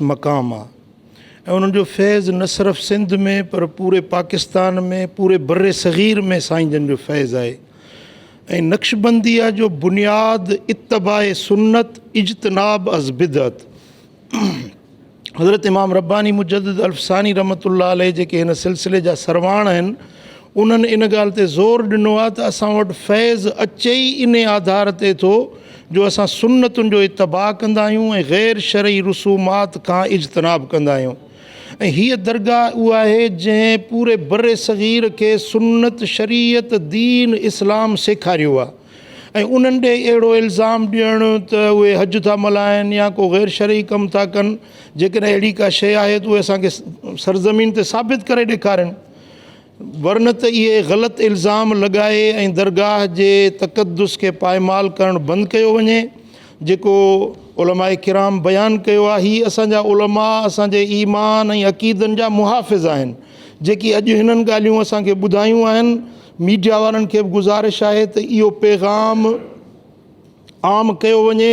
مقام آ ۽ انهن جو فيض نه صرف سنڌ ۾ پر پوري پاڪستان ۾ پوري بر صغير ۾ سائين جن جو فيض آهي ۽ نقشبنديه جو بنياد اتباع سنت اجتناب از بدعت حضرت امام رباني مجدد الف ثاني رحمة الله عليه جيڪي هن سلسلي جا سرواڻ آهن انهن ان ڳالهه تي زور ڏنو آهي ته اسان وٽ فيض اچي ئي انهي آڌار تي ٿو جو اسان سنتن جو اتباع ڪندا آهيون ۽ غير شرعي رسومات کان اجتناب ڪندا آهيون ۽ هيء درگاهه اها آهي جنهن پوري برصغير کي سنت شريعت دين اسلام سيکاريو آهي ۽ انهن ڏي اهڙو الزام ڏيڻ ته اهي حج ٿا ملهائن يا ڪو غير شرعي ڪم ٿا ڪن جيڪڏهن اهڙي ڪا شيء آهي ته اهي اسان کي سرزمين تي ثابت ڪري ڏيکارين. ورنه ته اهي غلط الزام لڳائي ۽ درگاهه جي تقدس کي پائمال ڪرڻ بند ڪيو وڃي جيڪو علماء ڪرام بيان ڪيو آهي هي اسان جا علماء اسان جي ايمان ۽ عقيدن جا محافظ آهن جيڪي اڄ هنن ڳالهيون اسان کي ٻڌايون آهن ميڊيا وارن کي به گذارش آهي ته اهو پيغام عام ڪيو وڃي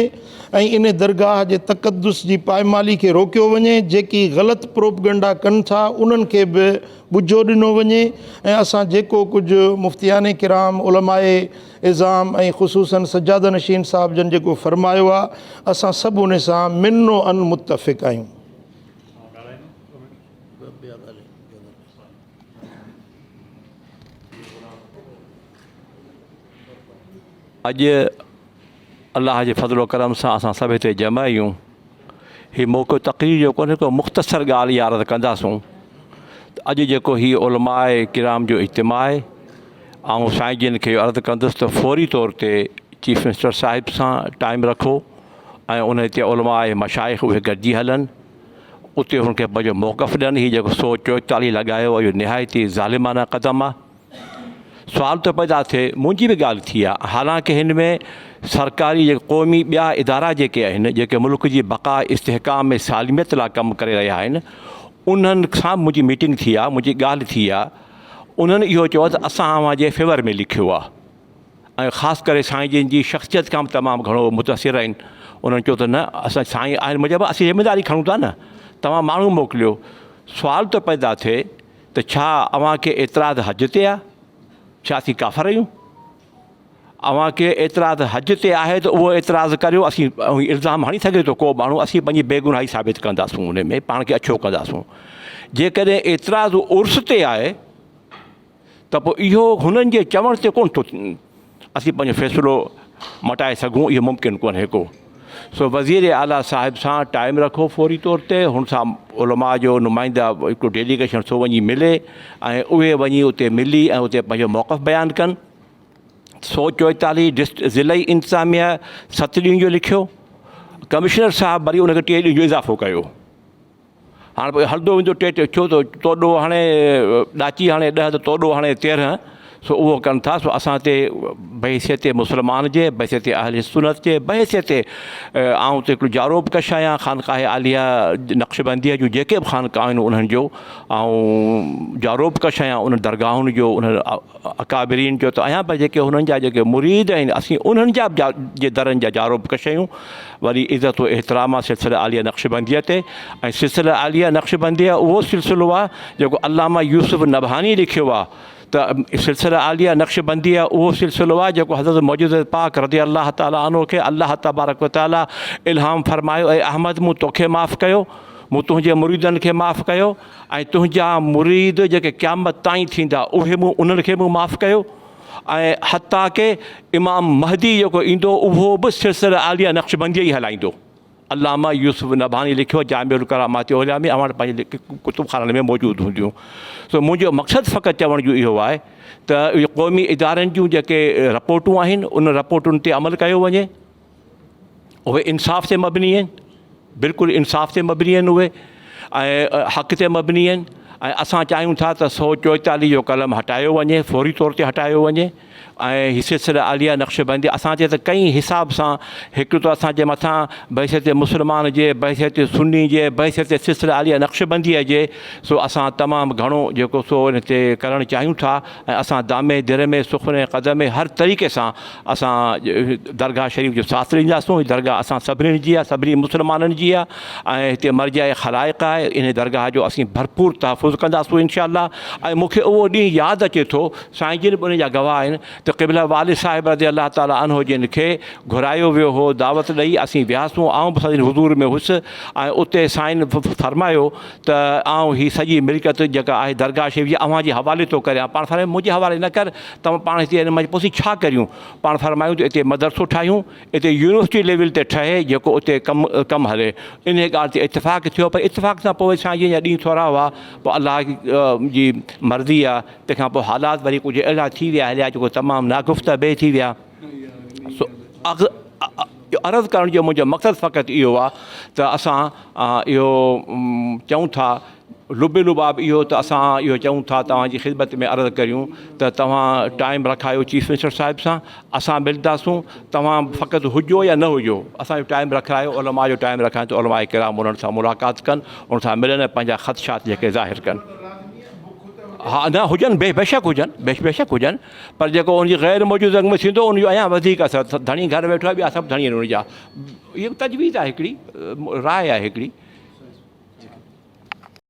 ۽ ان درگاهه جي تقدس جي پائمالي کي روڪيو وڃي جيڪي غلط پروپگنڊا ڪن ٿا انهن کي به ٻجهو ڏنو وڃي ۽ اسان جيڪو ڪجهه مفتيان ڪرام علماء عظام ۽ خصوصن سجاده نشين صاحب جن جيڪو فرمايو آ اسان سڀ ان سان من و عن متفق آهيون. اڄ الله جي فضل و ڪرم سان اسان سڀ هتي جمع آهيون هي موقعو تقرير جو ڪونهي ڪو مختصر ڳالهه يا عرض ڪنداسون ته اڄ جيڪو هي علماء ڪرام جو اجتماع آهي آئون سائين جن کي عرض ڪندس ته فوري طور تي چيف منسٽر صاحب سان ٽائم رکو ۽ ان هتي علماء مشائق اهي گڏجي هلن اتي هن کي پنهنجو موقف ڏين هي جيڪو سو چوئتاليهه لڳايو اهو نهايت ئي ظالمانه قدم آهي سوال ٿو پيدا ٿئي منهنجي به ڳالهه ٿي آ حالانڪه هن ۾ سرڪاري جي قومي ٻيا ادارا جيڪي آهن جيڪي ملڪ جي بقا استحڪام ۾ سالميت لا ڪم ڪري رهيا آهن انهن سان به منهنجي ميٽنگ ٿي آ منهنجي ڳالهه ٿي آ انهن اهو چيو ته اسان اوهان جي فيور ۾ لکيو آ ۽ خاص ڪري سائين جن جي شخصيت کان به تمام گهڻو متاثر آهن انهن چيو ته نه اسان سائين آهن مجب اسين ذميداري کڻون ٿا نه توهان ماڻهو موڪليو سوال ٿو پيدا ٿئي ته ڇا اوهان کي اعتراض حج تي آهي؟ ڇا اسين ڪافر آهيون؟ اوهان کي اعتراض حج تي آهي ته اهو اعتراض ڪريو اسين الزام هڻي سگهي ٿو ڪو ماڻهو اسين پنهنجي بيگناهي ثابت ڪنداسون ان ۾ پاڻ کي اڇو ڪنداسون جيڪڏهن اعتراض عرس تي آهي ته پوء اهو هنن جي چوڻ تي ڪونه ٿو اسين پنهنجو فيصلو مٽائي سگهون اهو ممڪن ڪونهي ڪو سو وزير اعليٰ صاحب سان ٽائيم رکو فوري طور تي هن سان علماء جو نمائنده هڪڙو ڊيليگيشن سو وڃي ملي ۽ اهي وڃي اتي ملي ۽ اتي پنهنجو موقف بيان ڪن سو چويتاليهه ڊسٽ ضلعي انتظاميه ست ڏينهن جو لکيو ڪمشنر صاحب وري ان کي ٽي ڏينهن جو اضافو ڪيو هاڻ پوء هلندو ويندو ٽي ٽي ڇو ٿو تو ڏوهه هڻي ڏاچي هڻي ڏهه ته تو ڏوهه هڻي تيرهن سو اهو ڪن ٿا سو اسان تي بحيثيت مسلمان جي بحيثيت اهل سنت جي بحيثيت آئون ته هڪڙو جارو به ڪش آهيان خانقاهه عاليه نقشبنديه جون جيڪي به خانقاهون آهن انهن جو آئون جارو به ڪش آهيان انهن درگاهن جو انهن اڪابرين چيو ته ايان پر جيڪي هنن جا جيڪي مريد آهن اسين انهن جا به جي درن جا جارو به ڪشيون وري عزت و احترام آ سلسله عاليه نقشبنديه تي ۽ سلسله عاليه نقشبنديه اهو سلسلو آ جيڪو علامه يوسف نبهاني لکيو آ ته سلسله عاليه نقشبنديه اهو سلسلو آ جيڪو حضرت معجزه پاڪ رضي الله تعالٰي عنه کي الله تبارڪ و تعالٰي الهام فرمايو اي احمد مون توکي معاف ڪيو مون تنهنجي مريدن کي معاف ڪيو ۽ تنهنجا مريد جيڪي قيامت تائين ٿيندا اهي مون انهن کي به معاف ڪيو ۽ حتيٰ ڪه امام مهدي جيڪو ايندو اهو به سلسله عاليه نقشبنديء جي هلائيندو. علامه يوسف نبهاني لکيو جامع الڪرامات عليا ۾ اوهان وٽ پنهنجي ڪتب خانن ۾ موجود هونديون سو منهنجو مقصد فقط چوڻ جو اهو آهي ته قومي ادارن جون جيڪي رپورٽون آهن انهن رپورٽن تي عمل ڪيو وڃي. اهي انصاف تي مبني آهن بلڪل انصاف تي مبني آهن اهي ۽ حق تي مبني آهن ۽ اسان چاهيون ٿا ته سو چوئيتاليهه جو قلم هٽايو وڃي فوري طور تي هٽايو وڃي ۽ هي سلسله عاليه نقشبندي اسان تي ته ڪئين حساب سان هڪ ته اسانجي مٿان بحثيت مسلمان جي بحثيت سني جي بحثيت سلسله عاليه نقشبنديء جي سو اسان تمام گهڻو جيڪو سو هن تي ڪرڻ چاهيون ٿا ۽ اسان دامي درمي سخني قدمي هر طريقي سان اسان درگاهه شريف جو ساٿ ڏينداسون هي درگاهه اسان سڀني جي آهي سڀني مسلمانن جي آهي ۽ هتي مرجع خلائق آهي انهي درگاهه جو اسين ڀرپور تحفظ ڪنداسون انشاء الله ۽ مونکي اهو ڏينهن ياد اچي ٿو سائين جن به ان جا گواهه آهن ته قبله والد صاحب رضي الله تعالٰي عنه جن کي گهرايو ويو هو دعوت ڏئي اسين وياسون آئون به سندن حضور ۾ هوس ۽ اتي سائين فرمايو ته آئون هي سڄي ملڪيت جيڪا آهي درگاهه شريف جي اوهان جي حوالي ٿو ڪريان. پاڻ فرمايو منهنجي حوالي نه ڪر، توهان پاڻ هتي ان مجي پوسي ڇا ڪريون؟ پاڻ فرمايو ته اتي مدرسو ٺاهيون، اتي يونيورسٽي ليول تي ٺهي جيڪو اتي ڪم ڪم هلي. انهيء ڳالهه تي اتفاق ٿيو پر اتفاق سان پوء سائين جن جا ڏينهن ٿورا هئا، پوء الله جي مرضي آ، تنهن کان پوء حالات وري ڪجهه اهڙا ٿي ويا هليا جيڪو تمام ناگفته به ٿي ويا. سو عرض ڪرڻ جو منهنجو مقصد فقط اهو آ ته اسان اهو چئون ٿا لب لباب اهو ته اسان اهو چئون ٿا توهان جي خدمت ۾ عرض ڪريون ته توهان ٽائيم رکايو چيف منسٽر صاحب سان اسان ملداسون توهان فقط هجو يا نه هجو اسان جو ٽائيم رکرايو علماء جو ٽائيم رکائين ته علماء ڪرام انهن سان ملاقات ڪن ان سان ملن ۽ پنهنجا خدشات جيڪي ظاهر ڪن ها نه هجن بي بيشڪ هجن بيشڪ هجن پر جيڪو ان جي غير موجود رنگ ۾ ٿيندو ان جو اڃا وڌيڪ اثر ڌڻي گهر ويٺو آهي ٻيا سڀ ڌڻي آهن ان جا اهي تجويز آهي هڪڙي راء آهي هڪڙي.